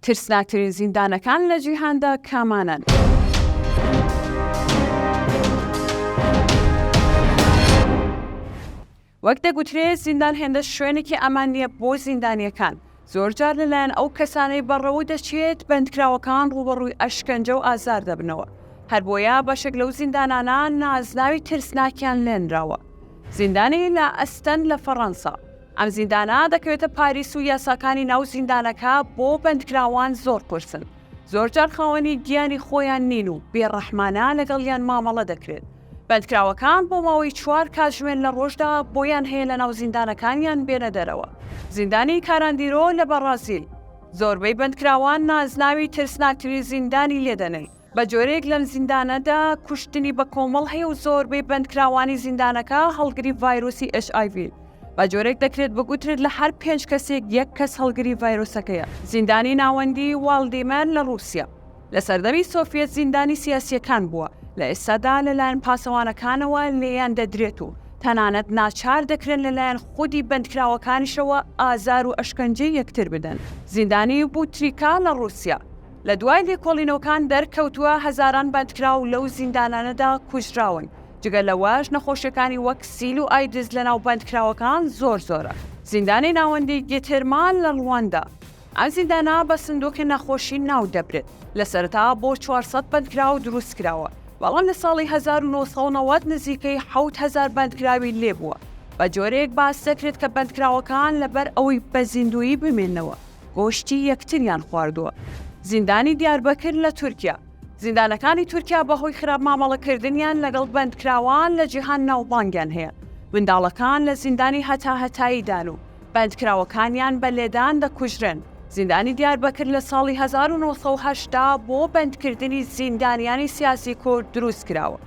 ترسناکترین زیندانەکان لە جیهاندا کامانەن؟ وەک دەگوترێ زیندان هێندە شوێنێکی ئامان نییە بۆ زیندانیەکان، زۆرجار لەلایەن ئەو کەسانەی بەڕەوە دەچێت بەندکراوەکان ڕووبەڕووی ئەشکەنجە و ئازار دەبنەوە، هەربۆیە بەشێک لەو زیندانانە نازناوی ترسناکیان لێنراوە. زیندانی لا ئەستەن لە فەڕەنسا. ئەم زیندانە دەکەوێتە پاریس و یاساکانی ناو زیندانەکە بۆ بەندکراوان زۆر قورسن، زۆرجار خاوەنی گیانی خۆیان نین و بێڕەحمانە لەگەڵیان مامەڵە دەکرێت، بەندکراوەکان بۆ ماوەی چوار کاتژمێر لە ڕۆژدا بۆیان هەیە لەناو زیندانەکانیان بێنە دەرەوە. زیندانی کاراندیرۆ لە بەڕازیل، زۆربەی بەندکراوان نازناوی ترسناکترین زیندانی لێدەنن، بە جۆرێک لەم زیندانەدا کوشتنی بە کۆمەڵ هەیە و زۆربەی بەندکراوانی زیندانەکە هەڵگری ڤایرۆسی ئێچ ئای ڤین. بە جۆرێک دەکرێت بگوترێت لە هەر پێنج کەسێک یەک کەس هەڵگری ڤایرۆسەکەیە. زیندانی ناوەندی واڵدیمەر لە ڕووسیا، لە سەردەمی سۆفیەت زیندانی سیاسییەکان بووە، لە ئێستادا لەلایەن پاسەوانەکانەوە لێیان دەدرێت و تەنانەت ناچار دەکرێن لەلایەن خودی بەندکراوەکانیشەوە ئازار و ئەشکەنجەی یەکتر بدەن. زیندانی بوتریکا لە ڕووسیا، لە دوای لێکۆڵینەوەکان دەرکەوتووە هەزاران بەندکراو لەو زیندانانەدا کوژراون، جگە لەوەش نەخۆشیەکانی وەک سیل و ئایدز لەناو بەندکراوەکان زۆر زۆرە. زیندانی ناوەندی گیتێرما لە ڕواندا، ئەم زیندانە بە سندوقی نەخۆشی ناو دەبرێت، لە سەرەتا بۆ چوار سەد بەندکراو دروست کراوە، بەڵام لە ساڵی هەزار و نۆ سەد و نەوەد نزیکەی حەوت هەزار بەندکراوی لێبووە، بە جۆرێک باس دەکرێت کە بەندکراوەکان لەبەر ئەوەی بە زیندوویی بمێنەوە، گۆشتی یەکتریان خواردووە. زیندانی دیاربەکر لە تورکیا، زیندانەکانی تورکیا بەهۆی خراپ مامەڵەکردنیان لەگەڵ بەندکراوان لە جیهان ناوبانگیان هەیە، منداڵەکان لە زیندانی هەتاهەتاییدان و بەندکراوەکانیان بە لێدان دەکوژرێن، زیندانی دیاربەکر لە ساڵی هەزار و نۆ سەد و هەشتا بۆ بەندکردنی زیندانیانی سیاسی کورد دروستکراوە،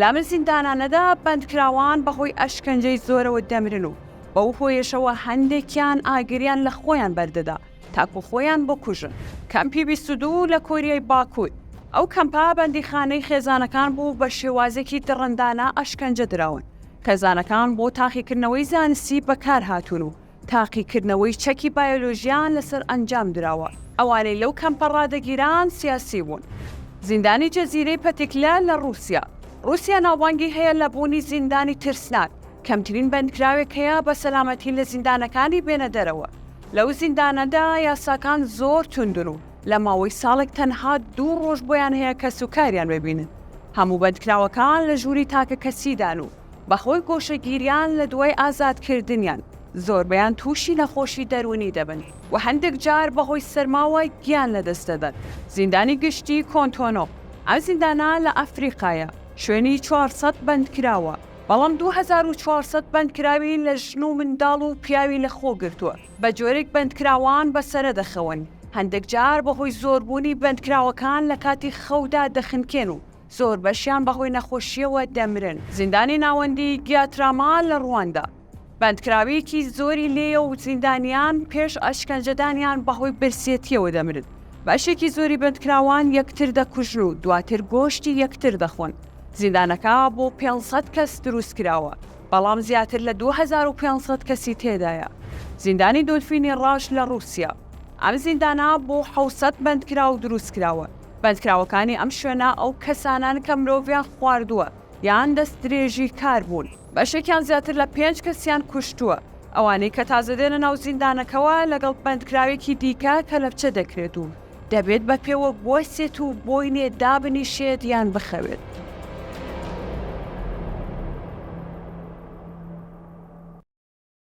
لەم زیندانانەدا بەندکراوان بەهۆی ئەشکەنجەی زۆرەوە دەمرن و بەو هۆیەشەوە هەندێکیان ئاگریان لە خۆیان بەردەدا تاکو خۆیان بکوژن. کەمپی بیست و دوو لە کۆریای باکوور، ئەو کەمپە بەندیخانەی خێزانەکان بوو بە شێوازێکی دڕندانە ئەشکەنجە دراون. خێزانەکان بۆ تاقیکردنەوەی زانستی بەکارهاتوون و تاقیکردنەوەی چەکی بایۆلۆژیان لەسەر ئەنجام دراوە. ئەوانەی لەو کەمپە ڕادەگیران سیاسی بوون. زیندانی جزیرەی پەتیکلە لە ڕووسیا. ڕووسیا ناوبانگی هەیە لە بوونی زیندانی ترسناک. کەمترین بەندکراوێک هەیە بە سەلامەتی لە زیندانەکانی بێنە دەرەوە، لەو زیندانەدا یاساکان زۆر توندن و لە ماوەی ساڵێک تەنها دوو ڕۆژ بۆیان هەیە کەس و کاریان ببینن، هەموو بەندکراوەکان لە ژووری تاکەکەسیدان و بەهۆی گۆشەگیریان لە دوای ئازادکردنیان زۆربەیان تووشی نەخۆشی دەروونی دەبن و هەندێک جار بەهۆی سەرماوە گیان لەدەست دەدەن. زیندانی گشتی کۆنتۆنۆ، ئەم زیندانە لە ئەفریقایە، شوێنی چوار سەد بەندکراوە، بەڵام دوو هەزار و چوار سەد بەندکراوی لە ژن و منداڵ و پیاوی لە خۆ گرتووە، بە جۆرێک بەندکراوان بە سەرە دەخەون، هەندێک جار بە هۆی زۆربوونی بەندکراوەکان لە کاتی خەودا دەخنکێن و زۆر بەشیان بە هۆی نەخۆشییەوە دەمرن. زیندانی ناوەندیی گیاتراما لە ڕواندا. بەندکراوێکی زۆری لێیە و زیندانیان پێش ئەشکەنجەدانیان بەهۆی برسێتیەوە دەمرن. بەشێکی زۆری بەندکراوان یەکتر دەکوژن و دواتر گۆشتی یەکتر دەخۆن. زیندانەکە بۆ پێنج سەد کەس دروست کراوە، بەڵام زیاتر لە دوو هەزار و پێنج سەد کەسی تێدایە. زیندانی دۆلفینی ڕەش لە ڕووسیا. ئەم زیندانە بۆ حەوت سەد بەندکراو دروست کراوە. بەندکراوەکانی ئەم شوێنە ئەو کەسانەن کە مرۆڤیان خواردووە یان دەستدرێژیکار بوون. بەشێکیان زیاتر لە پێنج کەسیان کوشتووە، ئەوانەی کە تازە دێنە ناو زیندانەکەوە لەگەڵ بەندکراوێکی دیکە کەلەپچە دەکرێت و دەبێت بە پێوە بوەستێت و بۆینێ دابنیشێت یان بخەوێت.